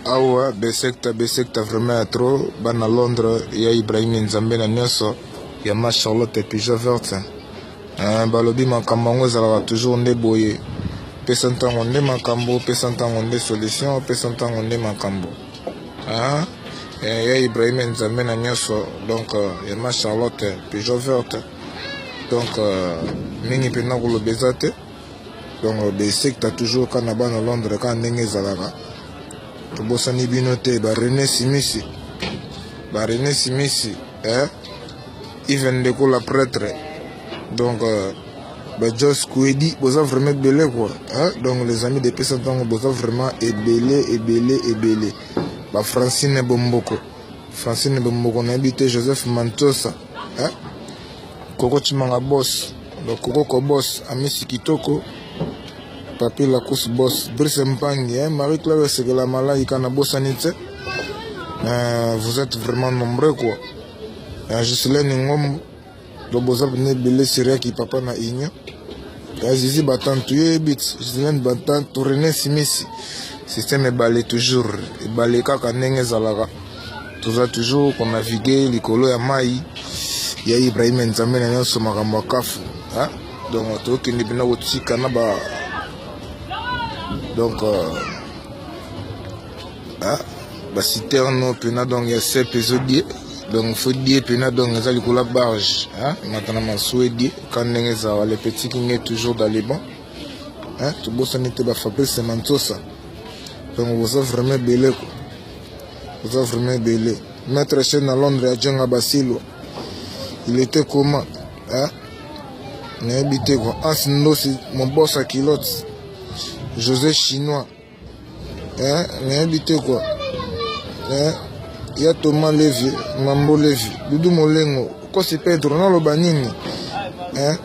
awa besekta besekta vraiment ya trop bana londres ya ibrahimi nzambe na nyonso ya ma charlotte pigeon verte eh, balobi makambo yango ezalaka toujours nde boye pesa ntango nde makambo pesa ntango nde solution pesa ntango nde makambo ah, eh, ya ibrahime nzambe na nyonso donc euh, ya ma charlotte pigeon verte donc euh, mingi mpenza koloba eza te donc euh, besekta toujours kaka na bana londres kaka ndenge ezalaka tobosani bino te barene simisi barene simisi eh? even ndeko la prêtre donc euh, bajos kuedi boza vraiment ebele kua eh? donc les amis depesa ntango boza vraiment ebele ebele ebele bafrancine bomboko francine bomboko nayebi te joseph mantosa eh? Koko Chimanga Boss, le Koko Boss, Amisi Kitoko, Papi Lacoste Boss, Brice Mpangi, hein, Marie-Claire Sekela Malaika na bosani te. Euh, vous êtes vraiment nombreux quoi. Euh, Jocelyn Ngom, le Bozab Nebele Siriaki Papa na Inyo. Euh, Zizi Batantu Yebit, Jocelyn Batantu, René Simisi. Système ebale toujours, ebale kaka ndenge ezalaka. toza toujours ko navigue likolo ya mai ya ibrahim nzambe na nyonso makambo ya kafu donc tokende mpena kotika na ba donc euh, baciterne mpena donc ya sepe ezodie donc fo die mpena donc eza likolo ya barge matana masuwa edie ka ndenge ezala le petit kinge toujours dans le bon tobosani te bafabrice mansosa donc boza vraiment ebele ko oza vraiment ebele maître chaine na londres ya jenga basilo il était comment hein? nayebi te ko ansi ndosi mobosa kilote josé chinois hein? nayebi te ko hein? ya toma levi mambo levi dudu molengo kosi pedro naloba nini hein?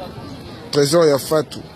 trésor ya fatu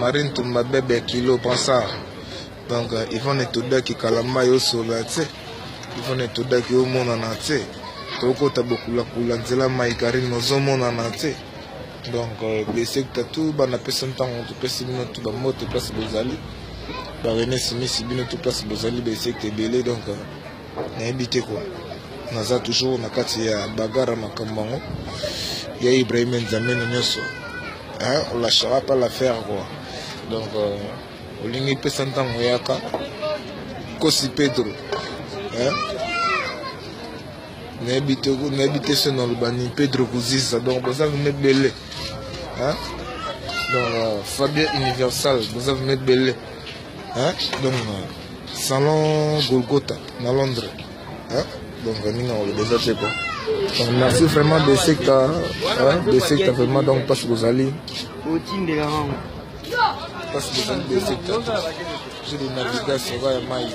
Marie Ntumba bebe ya kilo pensa donc euh, Yvonne Etodaki kalamba yo sola tse Yvonne Etodaki yo monana tse tokota bokulakula nzela mai Karine ozomonana tse donc euh, besekta tu bana pesa ntango topesi bino tu bambote place bozali barene simisi bino tu place bozali besekta ebele donc euh, nayebi te ko naza toujours na kati ya bagara makambo yango ya ibrahima nzameno nyonso olashaka pa l'affaire kua donc euh, olingi pesa ntango oyaka kosi pedro nayebi te nayebi te se nalobani pedro kuziza donc boza vrima ebele donc euh, fabien universal boza vrima ebele hein? donc salon golgota na londres hein? donc ndenge nakoloba eza te quoi donc merci vraiment de secta de secta vraiment donc mpasi kozali mpasi kozali de secta je de navigation oka ya mai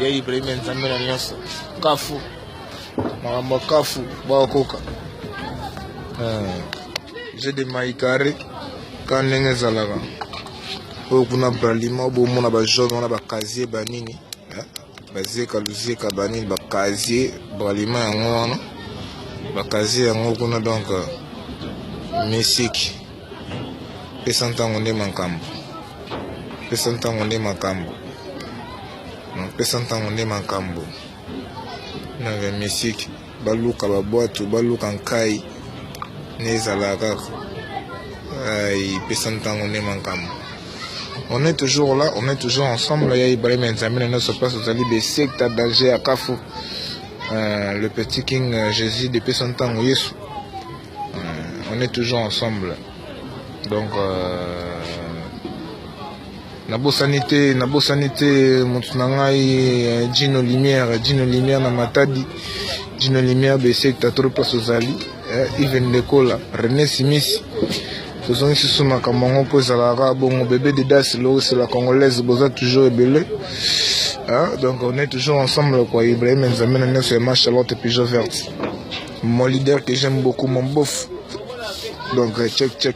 ya ibrahima nzambe na nyonso kafu makambo ya kafu bakokoka je de mai carré ka ndenge ezalaka oyo kuna bralima oyo bomona bajaune wana bakazie banini eh? bazeka luzeka banini bakazie bralima yango wana bakazie yango kuna donc euh, misiki pesa ntango nde makambo pesa ntango nde makambo pesa ntango nde makambo na misiki baluka babwatu baluka nkai ne ezalaka kaka ipesa ntango nde makambo on est toujours là on est toujours ensemble ya ibrahim ya nzambe na nyonso place ozali besekta danger ya kafu euh, le petit king euh, jésus depesa ntango yesu euh, on est toujours ensemble donc euh, Nabosani te, nabosani te moto na ngai eh, Gino Lumière, Gino Lumière na Matadi, Gino Lumière Besekta trop place ozali, eh, Iven Lekola, René Simisi. tozongi susu makambo yango mpo ezalaka bongo bebe de das loris la congolaise boza toujours ebele ah, donc on est toujours ensemble quoi ibrahim nzambe na nyonso ya ma charlotte pigeon verte mon leader que j'aime beaucoup mon bof donc check check